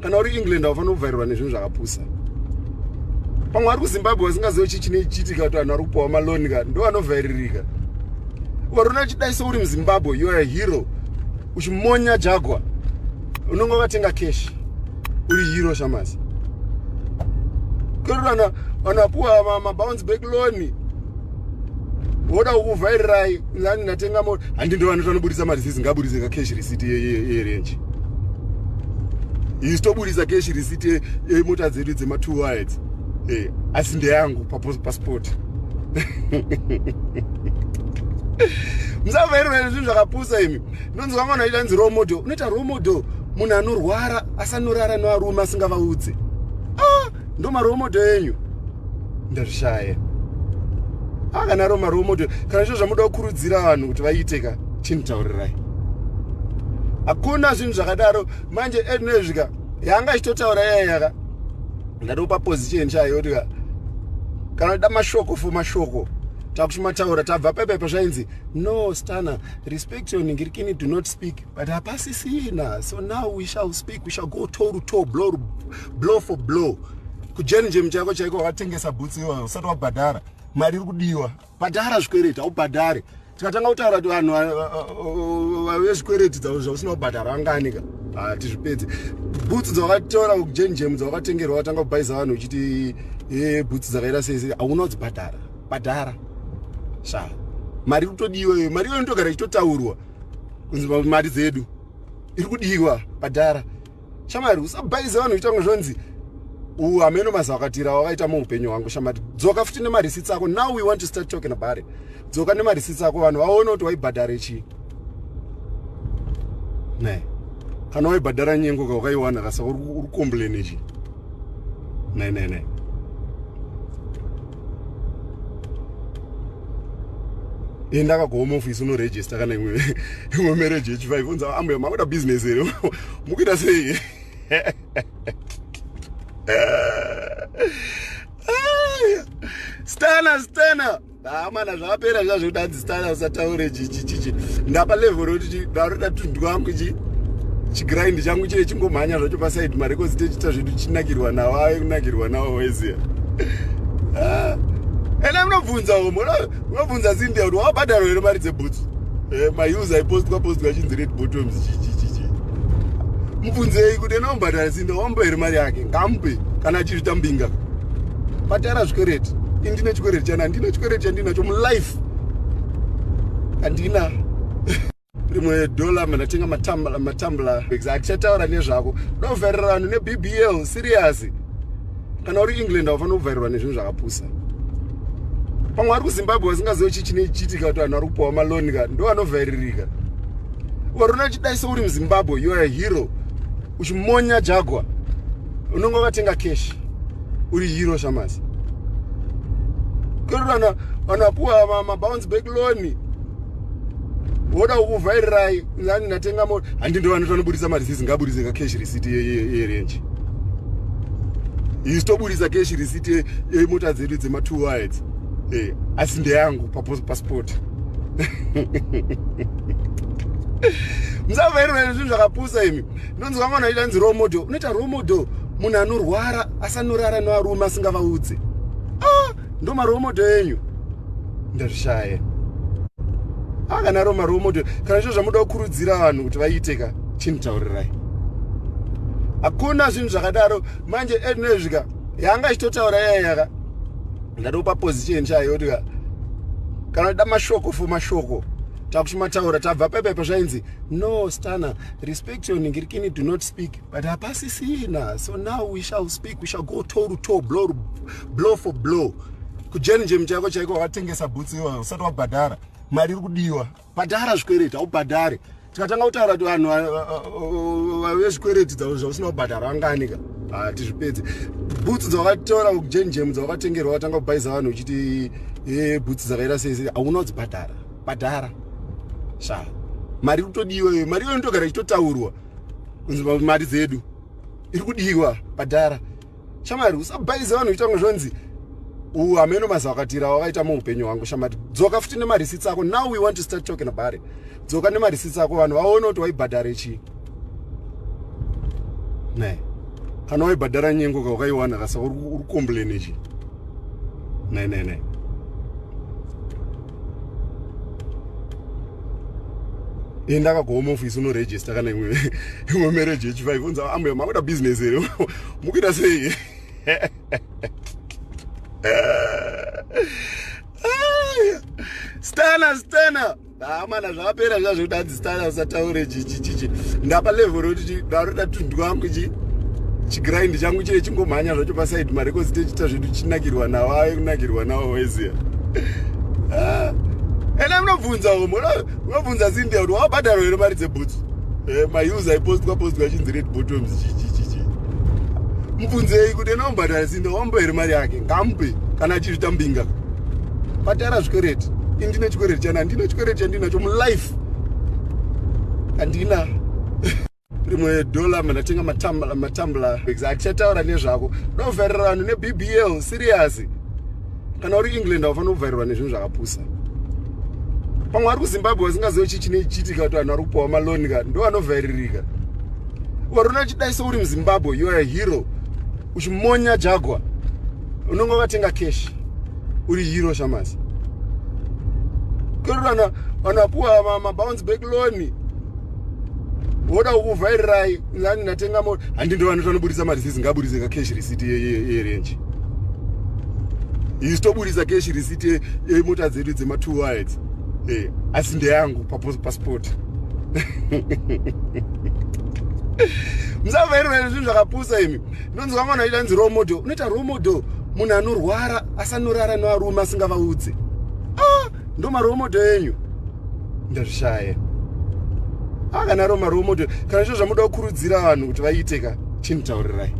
kana uri england haufanira kuvharirwa nezvinhu zvakapusa pamwe ari kuzimbabwe vasingazive chii chine chiitika kuti vanhu vari kupiwa maloni ka ndo vanovhairirika ukarona uchidai souri muzimbabwe you are a hero uchimonya jagwa unenge wakatenga cash uri hero shamasi kurana vanapuwa mabounce back loni woda kukuvhairirai nani ndatenga mota handi ndo vanoti vanoburitsa mari zizi ngaburitse ka cash receipt yerenji isu toburitsa cash receipt yemota dzedu dzema two wides eh, asi ndeyangu pasport musavhairirai zvinhu zvakapusa imi ndonzwa mwana aita nzi role model unoita role model munhu anorwara asanorara nevarume asingavaudze ah! ndomaromodo enyu ndazvishaya akanaro ah, maromodo kana zvo zvamuda kukurudzira vanhu kuti vaite ka chinditaurirai hakuna zvinhu zvakadaro manje ednezvika yanga ichitotaura yayaka ndatopa position chayo kuti ka kana da mashoko fo mashoko takuti mataura tabva pepepa zvainzi no stana respect your ningirikini do not speak but hapasisina so now we shall speak we shall go toe to toe blow, blow for blow kujenjem chako chaiko wakatengesa bhutsi iwayo usati wabhadhara mari iri kudiwa bhadhara zvikwereti haubhadhare tikatanga kutaura kuti vanhu vezvikwereti dzavo zvausina kubhadhara vanganika hatizvipedze bhutsi dzawakatora kujenjem dzawakatengerwa watanga kubhaiza vanhu uchiti e, bhutsi dzakaita sei hauna kudzibhadhara bhadhara shaa mari kutodiwa iyo mari iyo inotogara ichitotaurwa kunzi mari dzedu iri kudiwa padhara shamari usabaize vanhu kuita kunge zvonzi u hameno mazakatira wakaita muupenyu hwangu shamari dzoka futi nemarisitsi ako now we want to start talking about it dzoka nemarisitsi ako vanhu vaone kuti waibhadhare chii ne kana waibhadhara nyengo ka wakaiwana kasa uri kukomblene chii ne ne ne enda eh, akagohome ofisi unoregista kana imwe imwe mereji yechifive unza ambuya makuita business here mukuita sei stana stana hamana ah, zvapera zvazvekudadzi style usataure chichichichi ndapa level roti ndaroda tundu wangu chi chigrind changu chiye chingomhanya zvacho paside marecords techiita zvedu chinakirwa nawo ave kunakirwa nawo weziya ah. ena munobvunza homo munobvunza zindia kuti wabhadharo here mari dzebhutsu eh, maus aipostwa postwa chinzi red bottoms chichichichi mubvunzei kuti ena wambhadhara zindia wambo here mari yake ngamupe kana achizvita mbinga patara zvikwereti indine chikwereti chana ndine chikwereti chandinacho mulife andina rimwe dollar mandatenga matambla matambla atichataura nezvako ndovharira vanhu nebbl serious kana uri england aufanira kuvharirwa nezvinhu zvakapusa pamwe vari kuzimbabwe vasingazive chii chine chiitika kuti vanhu vari kupiwa maloni ka ndo vanovhairirika vari unochidaiso uri muzimbabwe youare hero uchimonya jagwa unongo vatenga cash uri hero shamazi kweruana vanapuwa mabounce back loan woda kukuvhairirai nani ndatenga mota handi ndo vanoti vanoburitsa mareceipt ngaburitse ka cash receipt yerenje isu toburitsa cash receipt yemota dzedu dzema-two wides eh, asi ndeyangu pasport musavhairirai zvinhu zvakapusa imi ndonzi vamwe vanhu vaita nzi role model unoita role model munhu anorwara asanorara nevarume asingavaudze ah, ndo marole model enyu ndazvishaya ah, kana ro marole model kana zvo zvamuda kukurudzira vanhu kuti vaite ka chinitaurirai hakuna zvinhu zvakadaro manje ednezvika yanga ichitotaura yayaka ndatopa position chayo kuti kana da mashoko for mashoko takuti mataura tabva pepepa zvainzi no stana respect your ningirikini do not speak but hapasisina so now we shall speak we shall go toe to toe blow, blow for blow kujeni njemu chako chaiko wakatengesa bhutsi iwa usati wabhadhara mari iri kudiwa bhadhara zvikwereti haubhadhare tikatanga kutaura kuti vanhu vave zvikwereti dzavo zvausina kubhadhara vanganika hatizvipedze bhutsi dzawakatora kujeni njemu dzawakatengerwa watanga kubhaiza vanhu uchiti eh, bhutsi dzakaita sei sei hauna kudzibhadhara bhadhara sha mari kutodiwa iyo mari iyo inotogara ichitotaurwa kunzi mari dzedu iri kudiwa bhadhara shamari usabhaize vanhu kuita kunge zvonzi u hameno maziva akatira wakaita muupenyu hwangu shamari dzoka futi nemarisitsi ako now we want to start talking about it dzoka nemarisitsi ako vanhu vaone kuti waibhadhare chii ne kana waibhadhara nyengo ka wakaiwana kasa uri kukomblene chii ne ne ne enda eh, akagohome office unoregista kana imwe imwe marriage yechifive unza ambuya makuita business here mukuita sei stana stana hamana ah, zvapera zvazvekutadzi style usataure chichichichi ndapa level roti ndaroda tundu wangu chi chigrind changu chie chingomhanya zvacho paside marekozi tichiita zvedu chinakirwa nawo ave kunakirwa nawo weziya ah. ena munobvunza homo munobvunza zindia kuti wabhadharo here mari dzebhutsu eh, maus aipostwa postwa chinzi red bottoms chichichichi mubvunzei kuti ena wambhadhara zindia wambo here mari yake ngamupe kana achizvita mbinga patara zvikwereti indine chikwereti chani handina chikwereti chandinacho mulife handina rimwe dollar mandatenga matambla matambla atichataura nezvako ndovharira vanhu nebbl serious kana uri england haufanira kuvharirwa nezvinhu zvakapusa pamwe vari kuzimbabwe vasingazive chii chine chiitika kuti vanhu vari kupiwa maloni ka ndo vanovhairirika vari unochidaiso uri muzimbabwe youare hero uchimonya jagwa unonge wakatenga cash uri hero shamasi kerurana vanhu vapuwa mabounce back loan woda kukuvhairirai nani ndatenga mota handi ndo vanoti vanoburitsa marisisi ngaburitse ka cash receipt yerenji isu toburitsa cash receipt yemota dzedu dzema two wides eh, asi ndeyangu pasport pa musavairona zvinhu zvakapusa imi ndonzwa mwana aita nzi romodo unoita romodo munhu anorwara asanorara nevarume asingavaudze ah, ndo maromodo enyu ndazvishaya ah, kana ro maromodo kana zvo zvamuda kukurudzira vanhu kuti vaite ka chinitaurirai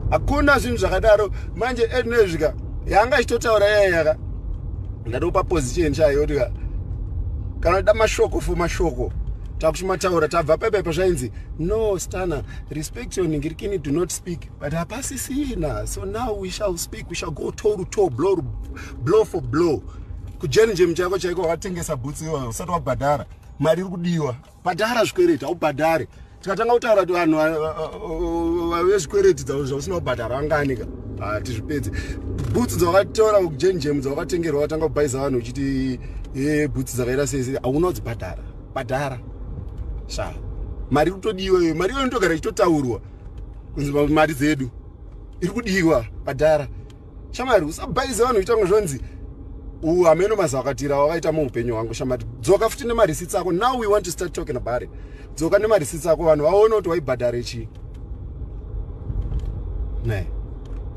hakuna zvinhu zvakadaro manje ednezvika yanga ichitotaura yayaka ndatopa position chaiyo kuti kana uda mashoko for mashoko takuchimataura tabva pepepo zvainzi no stana respect your ningirikini do not speak but hapasisina so now we shall speak we shall go to ruto blow, blow for blow kujenjem chako chaiko wakatengesa bhutsi iwayo usati wabhadhara mari iri kudiwa bhadhara zvikwereti haubhadhare tikatanga kutaura kuti vanhu vezvikwereti dzavo zvausina kubhadhara vanganika hatizvipedze bhutsu dzawakatora kujenjemu dzawakatengerwa watanga kubhaiza vanhu uchiti e, bhutsu dzakaita sei hauna kudzibhadhara bhadhara sha mari iri kutodiwa iyo mari iyo inotogara ichitotaurwa kunzi mari dzedu iri kudiwa bhadhara shamari usabhaize vanhu kuita kunge zvonzi u hameno mazawakatira wakaita muupenyu hwangu shamari dzoka futi nemarisitsi ako now we want to start talking about it dzoka nemarisitsi ako vanhu vaone kuti waibhadhare chii ne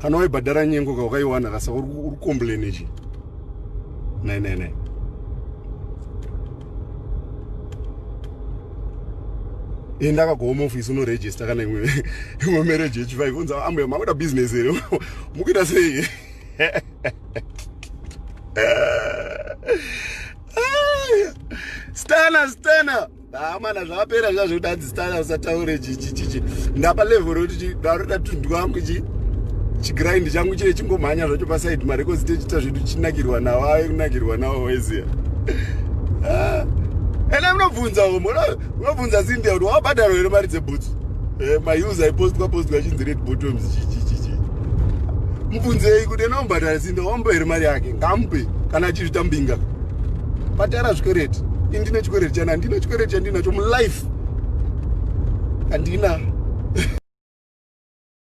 kana waibhadhara nyengo ka ukaiwana kasa uri kombleni chii ne ne ne enda kagohome office unoregista kana imwe imwe marriage yechifive unza ambuya makuda business here mukuita sei stana stana amana zvapera zva zvekuti hanzi stana usataure chichichichi ndapa level rokuti ndaroda tundu wangu chi chigrind changu chie chingomhanya zvacho pasaidi marekozi techiita zvedu chinakirwa nawo ave kunakirwa nawo weziya ah. ene munobvunza umo munobvunza zindia kuti wabhadharo here mari dzebhutsu eh, maus aipostwa postwa chinzi red bottoms chichichichi mubvunzei kuti anombhadhara simbe wambo here mari yake ngamupe kana achizvitambinga patara zvikwereti ini ndine chikwereti chana ndine chikwereti chandinacho mulife handina